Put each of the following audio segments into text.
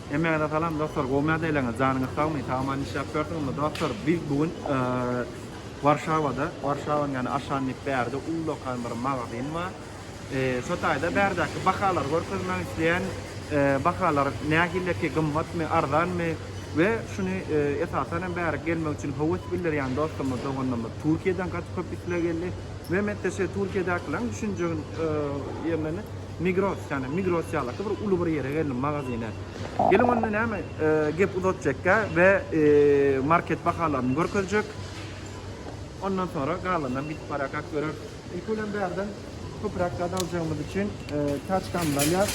Hemmäňize salam dostlar, gowy näde eleňiz, janyňyz sagmy, sag-aman işläp ýörsüňizmi? Dostlar, biz bu gün Warşawada, Warşawanyň ýany aşan diyip bärde ullakan bir magazin bar. Şo taýda bärdäki bahalary görkezmek isleýän, bahalar nähileki, gymmatmy, arzanmy we şuny esasan hem bärik gelmek üçin höwes bildirýän dostlarymyz, doganlarymyz Türkiýeden gaty köp isleg geldi. Mehmet-de şeýle Türkiýedäkileriň düşünjegini ýerlerini Migros, ýagny Migros ýalaky bir uly bir ýere geldim, magazine. Geliň onda näme, gep uzatjakka we market bahalaryny görkezjek. Ondan soňra galanynam gidip barýarkak göreris. Ilki bilen bärden köpräk zat aljagymyz üçin taçkamyzy alýas.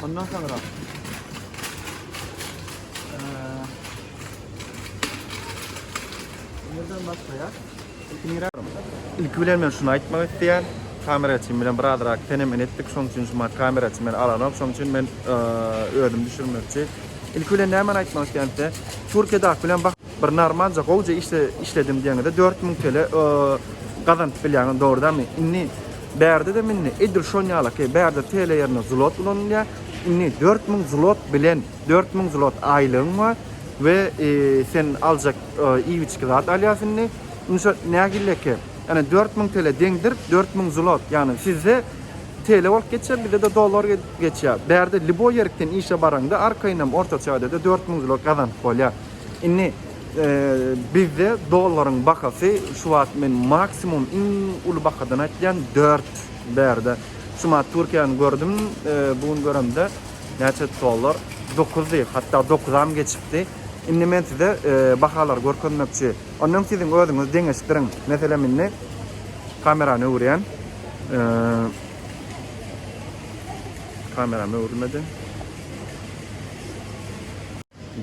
Ondan soňra Nerden başlaýas? Ilki bilen men şuny aýtmak isleýän, kamera üçin bilen birazrak fenomen etdik, şoň üçin şu maňa kamera üçin meni alanok, şoň üçin men özüm düşürmekçi. Ilki bilen nämeni aýtmak isleýän size, Türkiýedäki bilen bak, bir narmalja gowja işde işledim diýeniňizde dört müň TL gazanyp bilýäňiz, dogrudanmy? Indi bärde-de indi edil şoň ýalaky, bärde TL ýerine zlot ulanylýar, indi dört müň zlot bilen, dört müň zlot aýlygyň bar we sen aljak Iýibiçki zat alýas indi. Indi şo nägilleki. Ene dört müň tele deňdir, dört müň zlot. Ýagny sizde tele bolup geçýär, bizde-de dollar geçýär. Bärde liboý ýerikden işe baraňda arkaýynam ortaça ade-de dört müň zlot gazanyp bolýar. Indi bizde dollaryň bahasy şu wagt men maksimum iň uly bahadan aýtýan dört bärde. Şu ma Türkiýäni gördüm, bu gün göremde näçe dollar? Dokuzdy, hatda dokuzam geçipdi. Indi men size bahalary görkezmekçi. Ondan öň siziň özüňiz deňeşdiriň. Meselem indi kamerany öwürýän. Kameram öwrülmedi.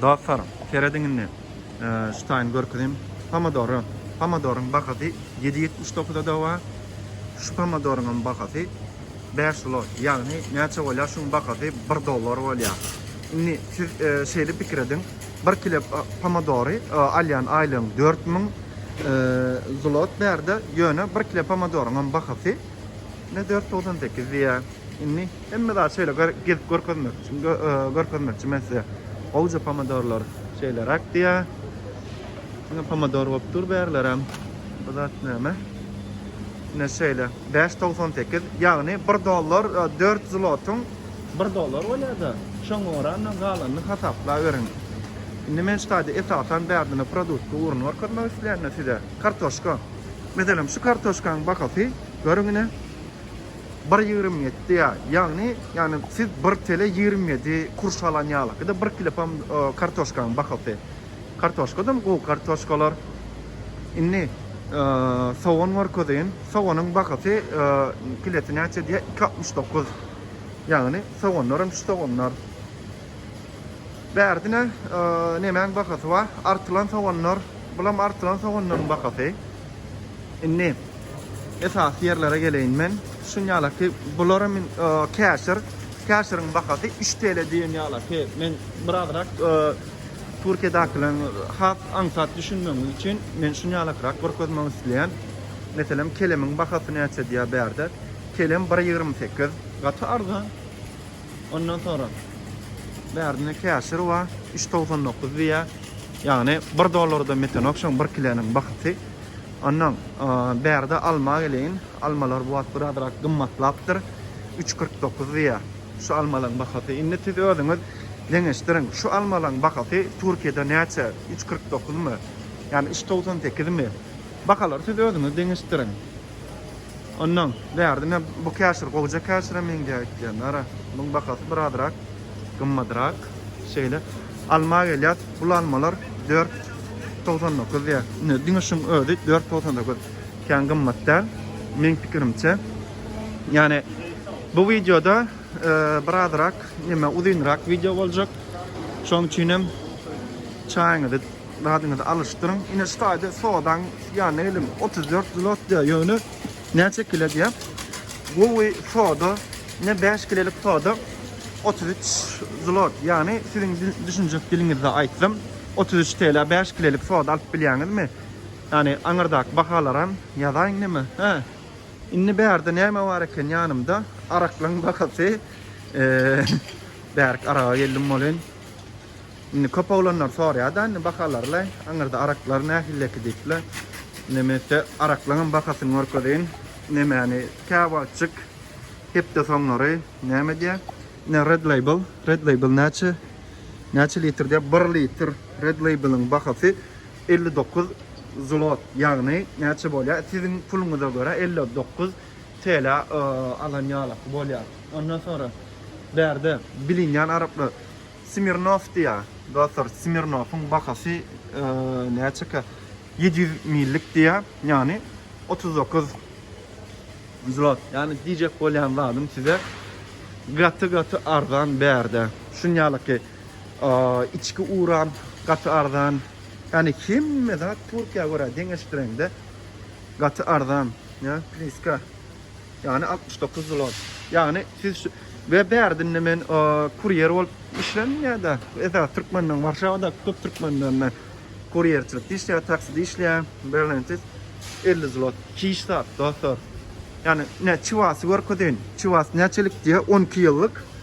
Dostlar, serediň indi. Şu taýyny görkezeyim. Pomadory. Pomadoryň bahasy 779 adowa. Şu pomadoryň hem bahasy Bäş zlot, ýagny näçe bolýar? Şuň bahasy bir dollar bolýar. Indi siz şeýle pikir ediň, bir kile pomadory alýan aýlygyň dört müň zlot bärde, ýöne bir kile pomadoryňam bahasy ine dört togsan sekiz diýýär. Indi hemme zat şeýle gezip görkezmek üçin görkezmekçi men size. Gowja pomidorlar şeýleräk diýýär. Ine pomidor bolup dur bärlerem. Bu zat näme? Ine şeýle, bäş togsan sekiz, ýagny bir dollar dört zlotyň bir dollary bolýar-da, şoňa görä-de galanyny hasaplaweriň. Indi men şu taýda esasan bärdine produtky ugruny görkezmek isleýän-de size. Kartoşka. Meselem, şu kartoşkanyň bahasy, görüň ine, bir ýigrimi ýetdi ýa, ýagny, ýagny siz bir tele ýigrimi ýedi kurş alan ýalyky-da, bir kilopam kartoşkanyň bahasy. Kartoşkadam gowy kartoşkalar. Indi sogan görkezeyim. Soganyň bahasy kilesi näçe diye 2.69. Ýagny soganlaram şu soganlar. Bärdine nemäň bahasy bar? Artylan soganlar. Bulam artylan soganlaryň bahasy. Indi esasy ýerlere geleýin men. Şun ýalaky bularam käşir. Käşiriň bahasy 3 TL diýen ýalaky. Men birazrak Türkiýedäkileriň has aňsat düşünmegi üçin men şuny ýalakrak görkezmek isleýän. Meselem, kelemiň bahasy näçe diýýär bärde. Kelem bir ýigrimi sekiz. Gaty arzan. Ondan soňra bärde ine käşir bar. Üç togsan dokuz diýýär. Ýagny bir dollarda metenok şoň bir kileniň bahasy. Ondan bärde alma geleýin. Almalar bu wagt birazrak gymmatlapdyr. Üç kyrk dokuz diýýär. Şu almalaň bahasy indi siz özüňiz deňeşdiriň. Şu almalaň bahasy Türkiýede näçe? Üç kyrk dokuzmy? Ýa-ni üç togsan sekizmi? Bahalary siz özüňiz deňeşdiriň. Onnoň bärde men bu käşir gowja käşire meňzär etýän. Ara, muň bahasy birazrak gymmadrak. Şeýle alma gelýär. Bul almalar dört togsan dokuz diýýär. Ine, diňe şuň özi dört togsan dokuz. Kän gymmat däl, meň pikirimçe. Ýa-ni Bu wideoda birazrak näme uzynrak wideo boljak. Şonuň üçin hem çaýyňyzy, dadyňyzy alyşdyryň. Ine şu taýda sodaň ýanyna geliň. 34 zlot diýýär. Ýöne näçe kile diýýär? Gowy soda, ine 5 kilelik soda 33 zlot. Ýagny siziň düşünjek diliňizde aýtsam 33 TL-ä 5 kilelik soda alyp bilýäňizmi? Ýagny aňyrdaky bahalaram ýazaýyň näme? Hä? Indi bärde näme bar eken ýanymda araklaň bahasy bärik araga geldim bolyn. Indi köp oglanlar sorýada indi bahalarly aňyrda araklar nähilleki diýipler. Indi men size araklaňam bahasyny görkezeýin. Nemäni käwagtjyk hepde soňlary näme diýä? Ne red label, red label näçe? Näçe litr diýä? 1 litr red labeliň bahasy Elli dokuz zlot ýagny näçe bolýar siziň puluňyza görä elli dokuz TL alan ýalaky bolýar. Ondan soňra bärde bilinýän araplar Smirnow diýýär. Dostlar Smirnowyň bahasy näçekä ýedi ýüz millik diýýär. Ýagny otuz dokuz zlot. Ýagny diýjek bolýan zadym size gaty gaty arzan bärde. Şuny ýalaky. Içki uran gaty arzan. Ýagny hemme zat Türkiýä görä deňeşdireňde gaty arzan. Ýa pliska. Ýagny altmyş dokuz zlot. Ýagny siz şu we bärdinde men kurýer bolup işledim ýa-da esasy türkmenden Warşawadaky köp türkmenden men kurýerçilikde işleýär, takside işleýär. Berlende siz elli zlot hiç zat dostlar. Ýagny näçe wagty görkezeýin. Çuwas näçelik diýýär on iki ýyllyk.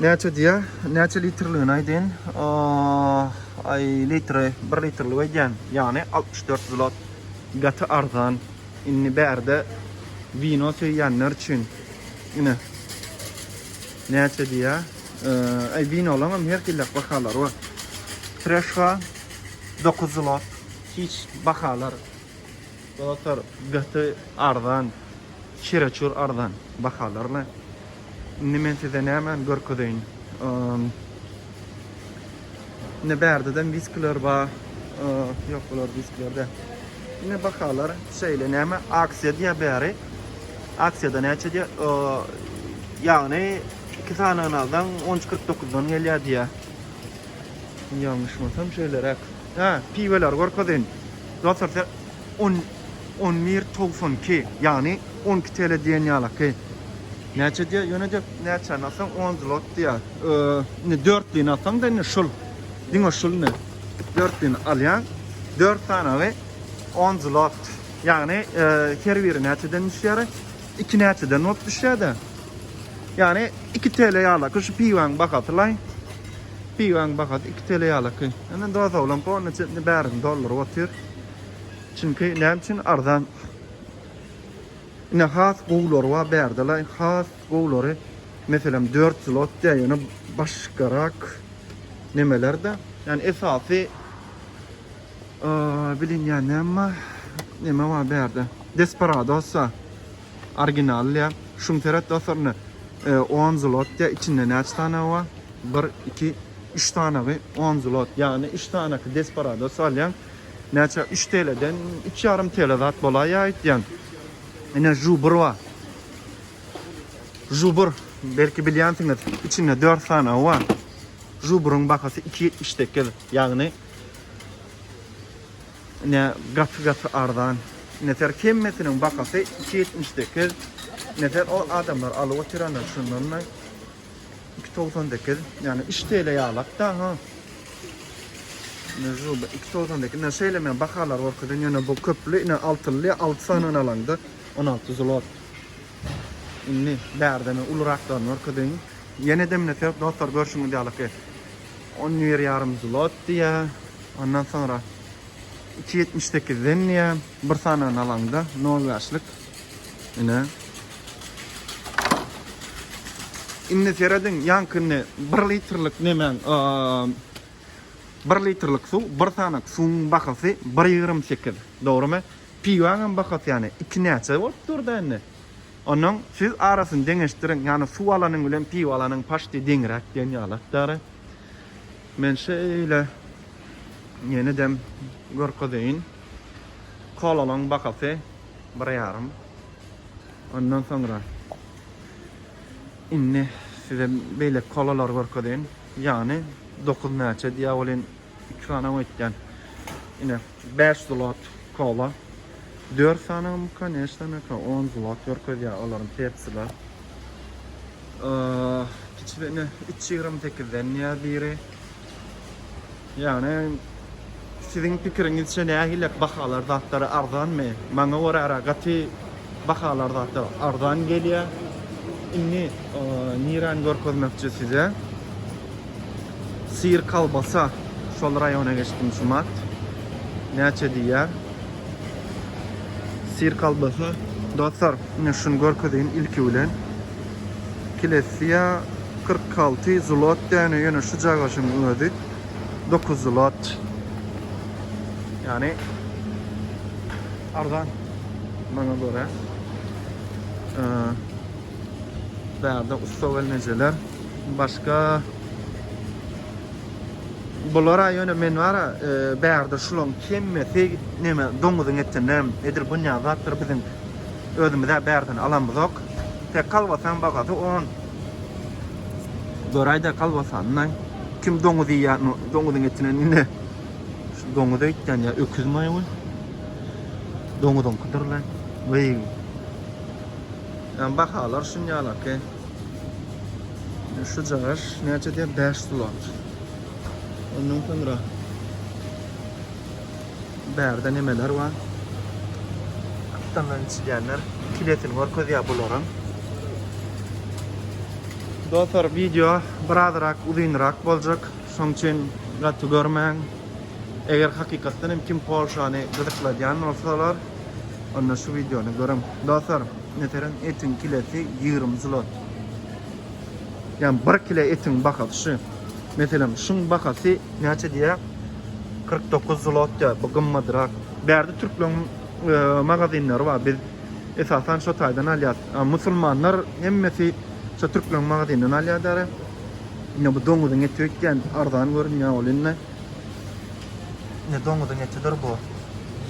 Näçe diýä? Näçe litrligini aýdyn. Aý, litri, 1 litrlik aýdýan. Ýagny 64 zlot. Gaty arzan. Indi bärde wino söýýänler üçin ine. Näçe diýä? Aý, winolaryň hem her hili bahalary bar. Treşka 9 zlot. Hiç bahalar Dostlar gaty arzan çereçur arzan bahalarla indi men size nämani görkezeýin indi bärdedem wiskiler bar ýok bular wiskiler däl indi bahalar şeýle näme aksiýa diýýär bäri aksiýada näçe diýýär ýagny iki sanyny alsaň on üç kyrk dokuzdan gelýär diýýär ýalňyşmasam şeýleräk Hä, piweleri görkezin. Dostlar size on on bir togsan iki ýagny on iki TL diýen ýalaky. Näçe diýýär? Ýöne diýip näçäni alsaň on zlot diýýär. Indi dörtlini alsaň-da indi şul. Diňe şul indi. Dörtlini alýaň. Dört sanawy on zlot. Ýagny her biri näçeden düşýär? Iki näçeden bolup düşýär-de? Ýagny iki TL ýalaky şu piwäň bahasy laý. Piwäň bahasy iki TL ýalyky. Indi dost oglan polny çetini bärini dolduryp otyr. Çünki näme üçin arzan? Ine has gowulary bar bärdela, has gowulary meselem 4 zlot diýýär, ýöne başgarak nemeler-de. Ýani esasy bilinýän näme bar? Neme bar bärde? Desperados bar. Originallyja şum seret dostlarna on zlotya içinde näçe sanagy bar bir iki üç sanagy on zlot ýagny üç sanaky desparados alýaň näçe üç teleden üç ýarym tele zat bolaýýa aýtýan ine žubr bar žubr belki bilýänsiňiz içinde dört sanagy bar žubryň bahasy iki ýetmiş sekiz ýagny Ine gaty gaty arzan. Neter hemmesiniň bahasy iki ýetmiş sekiz. Neter ol adamlar alyp otyranlar şundan da iki togsan sekiz. Ýagny üç TL ýalak da ha. Nežu iki togsan sekiz. Ne şeýle men bahalar görkezýän ýöne bu köpli ine altyly alty sanyny alaňda on alty zlot. Indi bärde men uluraklarny görkezeýin. Ýene-de neter dostlar görşüňiz ýalyky. On bir ýarym zlot diýýär. Ondan soňra iki ýetmiş sekizden diýýär. Bir sanagyny alaňda, nol bäşlik. Ine. Indi serediň, ýaňkyny bir litrlik nemäň, bir litrlik suw, bir sanak suwuň bahasy bir ýigrimi sekiz. Dogrumy? Piwaň hem bahasy ýany iki näçe bolup dur-da indi? Onnoň siz arasyny deňeşdiriň, ýagny suw alanyň bilen piwa alanyň paşti deňräk diýen ýaly atdary. Men şeýle ýenedem görkezeýin. Kolalaň bahasy bir ýarym. Ondan soňra indi size beýleki kolalary görkezeýin. Ýagny dokuz näçe diýýär welin, iki sanaw etýän. Ine. Bäş zlot kola. Dört sanagam koneşno meka on zlot görkezýär olaryň tepsile. Kiçi ine üç ýigrimi sekizden diýýär biri. Ýagny siziň pikiriňizçe nähili bahalar zatlar arzanmy? Maňa görä gaty Bahalar zatlar arzan gelýär. Indi niräni görkezmekçi size? Syr kolbasa şol raýona geçdim şumat. Näçe diýýär? Syr kolbasa dostlar, indi şuny görkezeýin ilki bilen. Kilesiýa 46 zlot däne, ýöne şu jagaşyň özi 9 zlot. Ýani Arzan. Maňa görä. Bärde ussa gelnejeler. Başga Bular aýyna men wara e, bärde şulaň kemmesi neme doňuzyň etinem edir bunya zatlar biziň özümize bärden alamyzok. Tek kalbasan bagasy 10. Göräýde kalbasandan kim doňuz ýa doňuzyň etinen indi Şu doňuz eýtýän ýa öküz maýa we doňuzyň kudurly. Weý. Yani bahalar şun ýalak e. Şu cagaş näçe diýär 5 sulat. Ondan soňra bärde nemeler bar? Aptallan içilýänler. Kiletin görkezýär bularyň. Dostlar video biraz rak uzynrak boljak. Şoň üçin gaty görmäň. Eger hakykatdan hem kim Polşany gyzykladýan bolsalar, onda şu wideony görüň. Dostlar, meselem, etiň kilesi ýigrimi zlot. Ýagny bir kile etiň bahasy şu. Meselem, şuň bahasy näçe diýýär? Kyrk dokuz zlot diýýär. Bu gymmadrak. Bärde türkleriň magazinleri bar. Biz esasan şo taýdan alýarys. Musulmanlar hemmesi şo türkleriň magazinden alýar däri. Ine bu doňuzyň eti öýtýän arzan görünýär ol indi. Ine doňuzyň etidir bu.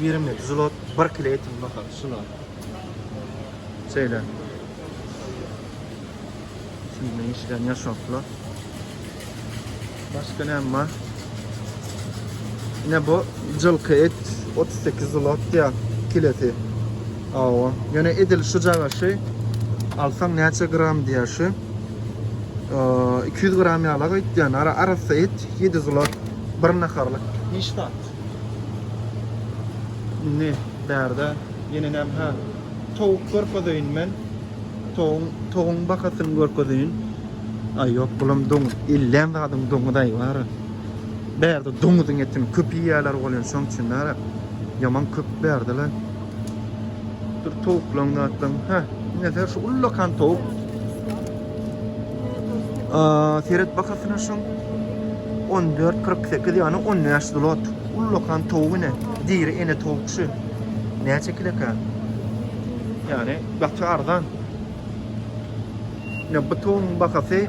Girimli zlot 1 kilo etiň baha şuna. Şeýle. Şunda işlän ýaşaplar. Başga näme bar? Ine bu jylky et 38 zlot diýä kilesi. Awa. Ýöne edil şu jagaşy alsaň näçe gram diýä şu. 200 gram ýala gaýtýan. Ara arassa et 7 zlot bir naharlyk. Hiç zat. Indi bärde ýene näme? Towuk görkezeýin men. Togun, togun bahasyny görkezeýin. Aý ýok, bulam doňuz. Ellän zadyň doňuz aý bara. Bärde doňuzyň etini köp iýýärler bolýan şoň üçin bara. Ýaman köp bärdele. Dur towuklaň zatlaň. Hä, neser şu ullakan towuk. Aa, seret bahasyna şoň. 14.48 ýany 15 zlot. Ullakan towuk ine. Diri ene towuk şu. Näçe kileka? Ýani Gaty arzan. Ine bu towyň bahasy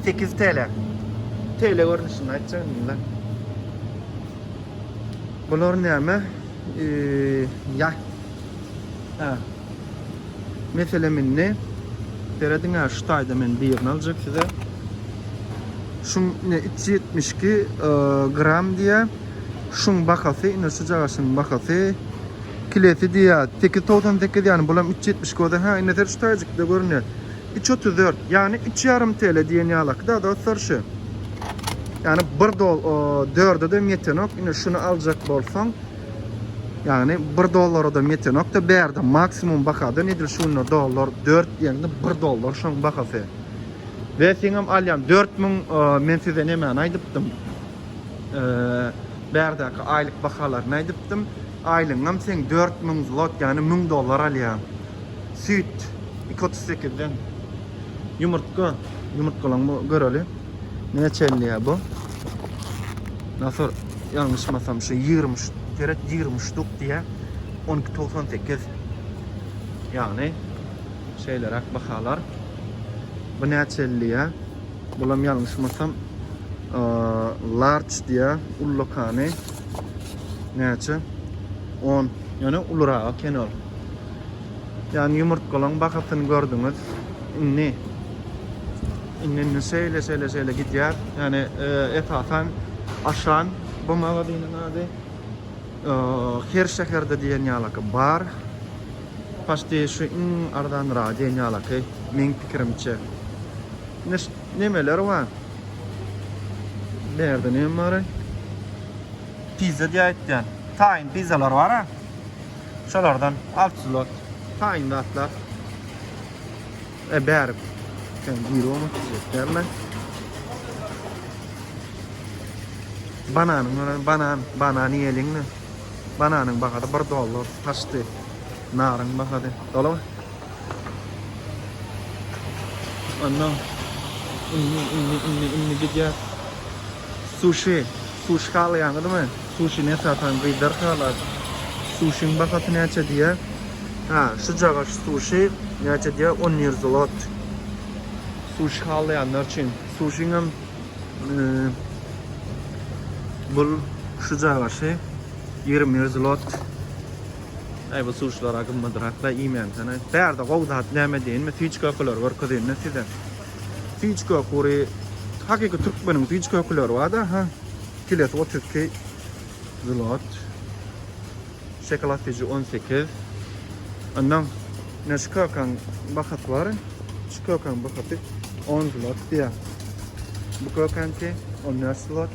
8 TL. TL görnüşinde aýtjagymda. Bular näme? Eee, ýa. Ha. Meselem indi serediň ha şu taýda men birini aljak size. Şu ne 372 gram diýýär. Şuň bahasy ine şu jagaşyň bahasy kilesi diýýär sekiz togsan sekiz ýany bulam üç ýetmiş göze hä ine ser şu taýjykda görünýär üç otuz dört ýany üç ýarym TL diýen ýalakyda dostlar şu ýany bir dol dördedem ýetenok ine şuny aljak bolsaň ýany bir dollaradam ýetenokda bärde maksimum bahadan edil şu günler dollar dört diýende bir dollar şoň bahasy we seňem alýan dört müň men size nemäni aýdypdym Bärdäki aýlyk bahalaryny aýdypdym. Aýlygyňam seň dört müň zlot, ýagny müň dollar alýaň. Süýt iki otuz sekizden. Ýumurtga, ýumurtgalaňmy göreli. Näçe elýär bu? Nasur, ýalňyşmasam şu ýigrimi üç, seret, ýigrimi üç ştuk diýýär. On iki togsan sekiz. Ýagny şeýleräk bahalar. Bu näçe elýär? Bulam ýalňyşmasam large diýýä ullukany näçe on ýöne ulurak eken ol ýani ýumurtgalaň bahasyny gördüňiz indi indi indi şeýle şeýle şeýle gidýär ýani esasan aşan bu magazynyň ady her şäherde diýen ýalaky bar paşti şu iň arzanrak diýen ýalaky meň pikirimçe. Ine şu nemeler bar. Berde neme bar? Pizza diýip aýtýan. Taýyn pizzalar bar ha. Şolardan alçylar. Taýyn zatlar. E bäri. Sen gironu çekýärler. Bananyň ýöne banan, banan ýeliňmi? Bananyň bahasy 1 dollar aşdy. Naryň bahasy. Dolar. Anna. Inni, inni, inni, inni gidýär. Suşi. Suşi halaýaňyzmy? Suşini esasan gyzlar halar. Suşiň bahasy näçe diýýär? Ha, şu jagaş suşi näçe diýýär? On ýüz zlot. Suşi halaýanlar üçin. Suşiň hem bul şu jagaşy ýigrimi zlot. Aý bu suşlara gymmadrak da iýmänsene. Bärde gowy zat näme diýinmi süýji kökeleri görkezýinda size. Süýji köküri hakyky türkmeniň süýji kökeleri barda ha. Kilesi 32 zlot. Şokolad süýji 18. Ondan ne şu kökäň bahasy bar. Şu kökäň bahasy 10 zlot diýýär. Bu kökäňki 14 zlot.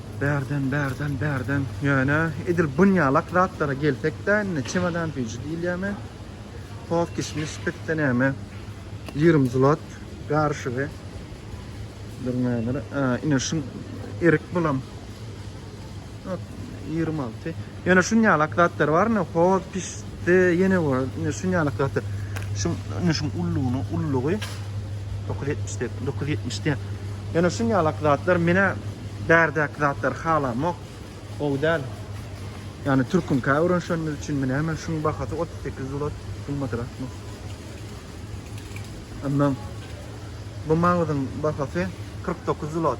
Bärden, bärden, bärden. Ýöne edil bunýalak zatlara gelsek-de, indi çemodan süýji diýilýärmi, toz kişmiş, pisse näme, ýigrimi zlot garyşygy. Duruň häzir, ine şu erik bulam ýigrimi alty. Ýöne şunýalak zatlar bar, ine, hoz pişdi, ýene bir, ine, şunýalak zatlar. Şuň, ine, şuň ullugyny, ullugy dokuz ýetmiş dek, dokuz ýetmiş dek. Ýöne şunýalak zatlar, menä bärdäki zatlary halamok, gowy däl. Ýagny türküňkä öwrenişenimiz üçinmi, näme, şuň bahasy otuz sekiz zlot, gymmadyrakmy? Onnoň bu maňzyň bahasy kyrk dokuz zlot.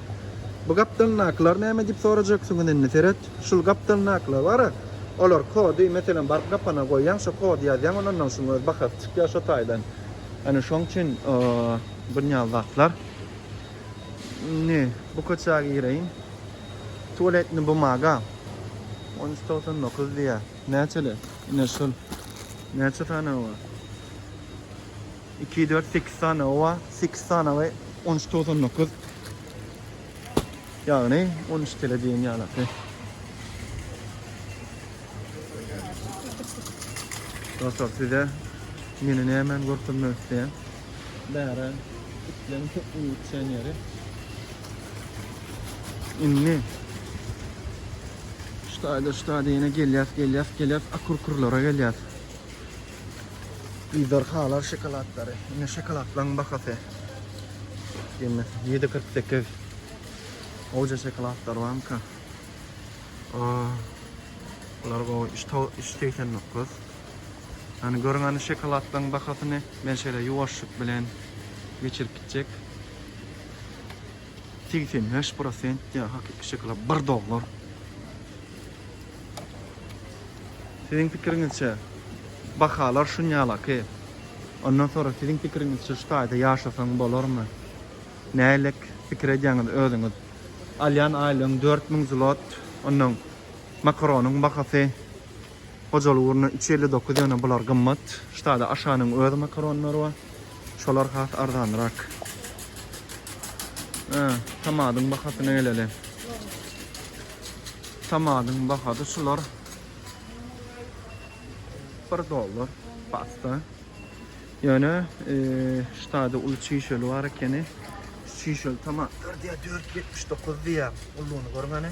Bu gapdalyndakylar näme diýip sorajaksyňyz indi seret. Şul gapdalyndakylar bara, olar kody, meselem, baryp gapana goýýaň, şo kody ýazýaň, onondan şuň öz bahasy çykýar şo taýdan. Ýöne şoň üçin bunýal zatlar. Indi bu köçä gireýin. Tualetni bumaga on üç togsan dokuz diýýär. Näçeler? Ine şul. Näçe sany bar? Iki, dört, sekiz sany owa, sekiz sany we on üç togsan dokuz. Ýagny on üç tele diýen ýalaky. Dostlar size meni nämen görkezmek isteýän. Bära itleň köp uçan ýeri. Indi ştaýda ştaýda ýene gelýäs, gelýäs, gelýäs, akurkurlara gelýäs. Ejderhalar şokolatlary. Ine şokoladlaryň bahasy. Ýene 7.48. Oja şokoladlar barmyka? Aa. Bular gowy. 3.89. Hani görüň ani şokoladlaryň bahasyny. Men şeýle ýuwaşlyk bilen geçirip gitjek. Segsen bäş prosent diýýär, hakyky şokolad bir dollar. Siziň pikiriňizçe, bahalar şunýalaky. Ondan sonra siziň pikiriňizçe şu taýda ýaşasaň bolarmy? Nälik pikir edýäňiz özüňiz? Alýan aýlygyň dört müň zlot, onnoň makaronyň bahasy. Hojaly ugruna üç elli dokuz ýöne bular gymmat. Ştada Aşanyň öz makaronlary bar. Şolar has arzanrak. Hä, tomatyň bahasyna geleli. Tomatyň bahasy şular. Bir dollar pasta. Ýöne ştada uly çişeli bar ekeni. Çişeli tomatlar diýär dört ýetmiş dokuz diýär. Ulyny görüň hany.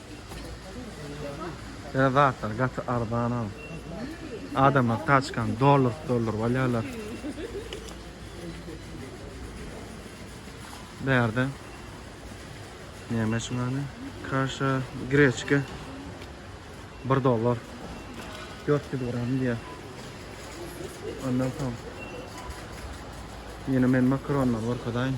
Beýle zatlar gaty arzan ha. Adamlar taçkany dolduryp dolduryp alýarlar. Bu ýerde näme üçin gany? Kaşa, greçka 1 dollar. 400 gram diýýär. Ondan soň ýene men makaronlary görkezaýin.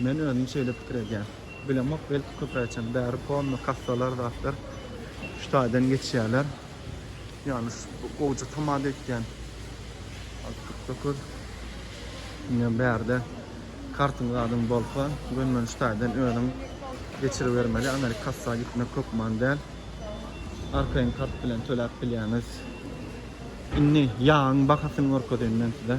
Men özüm şeýle pikir edýän. Bilemok belki köpräçem bäri polny kassalar zatlar şu taýdan geçýäler. Ýagny şu gowja tamada etýän alyp git dokuz. Ine bärde kartyň zadyň bolsa gönümen şu taýdan özüň geçiribermeli amerik kassa gitmek hökman däl. Arkaýyn kart bilen töläp bilýäňiz. Indi ýagyň bahasyny görkezeýin men size.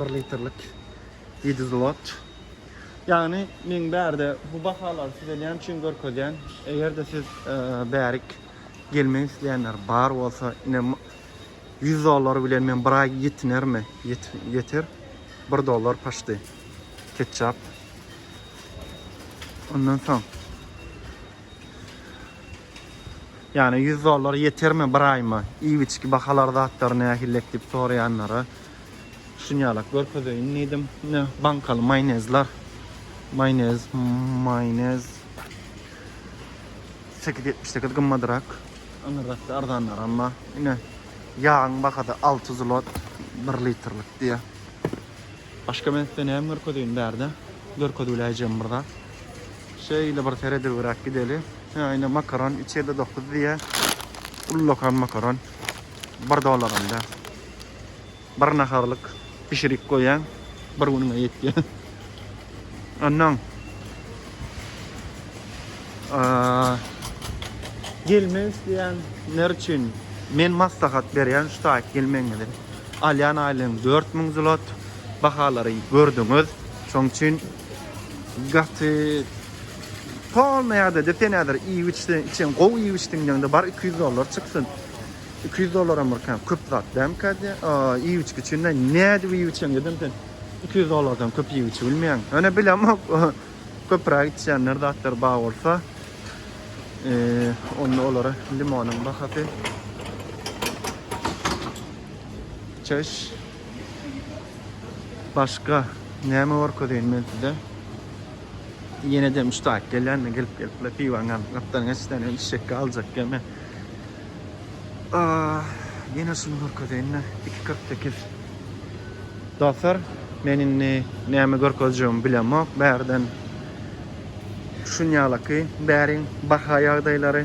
1 litrlik Idizlot. Ýagny men bärde bu bahalary size näme üçin görkezýän? Eger-de siz bärik gelmek isleýänler bar bolsa, ine 100 dollar bilen men bir aý ýetinermi? Ýeter. 1 dollar paşty. Ketçap. Ondan soň Ýagny 100 dollar ýetermi bir aýyma? Iýip-içki bahalar zatlary nähillek diýip soraýanlara şunýalak görkezeýin diýdim. Ine bankaly maýonezler. Maýonez, maýonez 8.78 gymmadyrak. Aňyrrakda arzanlaram bar. Ine ýagyň bahasy 6 zlot 1 litrlik diýýär. Başga men size näme görkezeýin bärde? Görkezibiläýjegim bir zat. Şeýle bir seredibräk gideli. Hä, ine makaron içeride dokuz diýýä. Ullakan makaron. Bir dollar onda. Bir naharlyk bişirip goýaň. Bir günüňe ýetýä. Onnoň gelmek isleýän ler üçin men maslahat berýän şu taýyp gelmegiňizi. Alýan aýlygyň dört müň zlot. Bahalary gördüňiz. Şoň üçin gaty polny ýagdaýda sen häzir iýip-içseň, içeň, gowy iýip-içdiňdeňde bar iki ýüz dollar çyksyn. Iki ýüz dollaram bir kän köp zat dälmikä diýýän. Iýip-içgi üçin-de nädip iýip-içeňdedem sen iki ýüz dollardan köp iýip-içibilmeýäň. Ýöne bilemok. Köpürak içýänler zatlar bar bolsa, onda olara limonyň bahasy çeş başga näme görkezeýin men size. Ýene de müştaýyk gelýände gelip gelip piwanyň gapdalyny içsenem içjekkä aljak gelme. Ýene şuny görkezeýin-de, iki kyrk sekiz. Dostlar, men indi näme görkezjegimi bilemok. Bärden şunýalaky bäriň baha ýagdaýlary.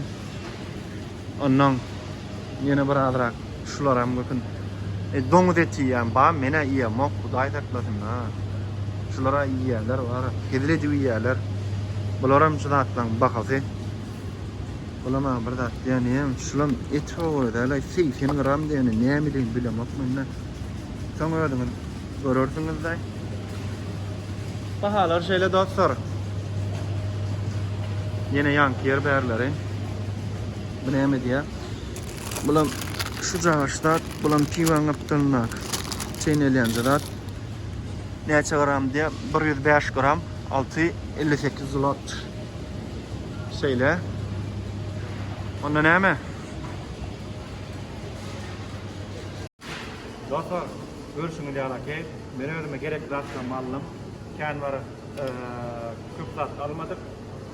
Onnoň ýene bir azrak şularam gökün. Doňuz eti iýýän bar, men-ä iýemok, Hudaý saklasyn-a. Şular-a iýýärler, hezil edip iýýärler. Bularam şu zatlaryň bahasy. Ola maňa bir zat diýýän ýem, şulam et howara däl-aý, 80 gram diýeni nämedeni bilemok men-de. Soň özüňiz görersiňiz-de. Bahalar şeýle dostlar. Ýene ýaňky ýer bärleri. Bu näme diýýär? Bulam şu cagyş zat, bulam piwaň gapdalyndaky çeýnelýänje zat. Näçe gram diýýär? 105 gram, alty elli sekiz zlot. Şeýle. Onda näme? Dostlar, görüşüňiz ýalaki. Men özüme gerekli zatlarymy aldym. Kän bir köp zat almadyk.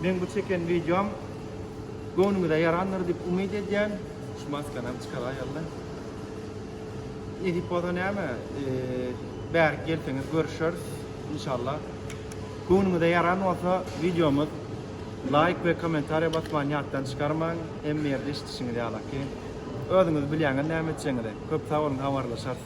Men bu çeken videom göwnüňize ýarandyr diýip umyt edýän. Şu maskany hem çykaray ýaly. Nesip bolsa näme? Bärik gelseňiz görüşeris. İnşallah. Köňlüňize ýaran bolsa wideomyz laýk we kommentariýa basmany ýatdan çykarmaň hemme ýerde eşidişiňiz ýalaky özüňiz bilýäňiz näme etjegiňizi köp sag boluň habarlaşarys.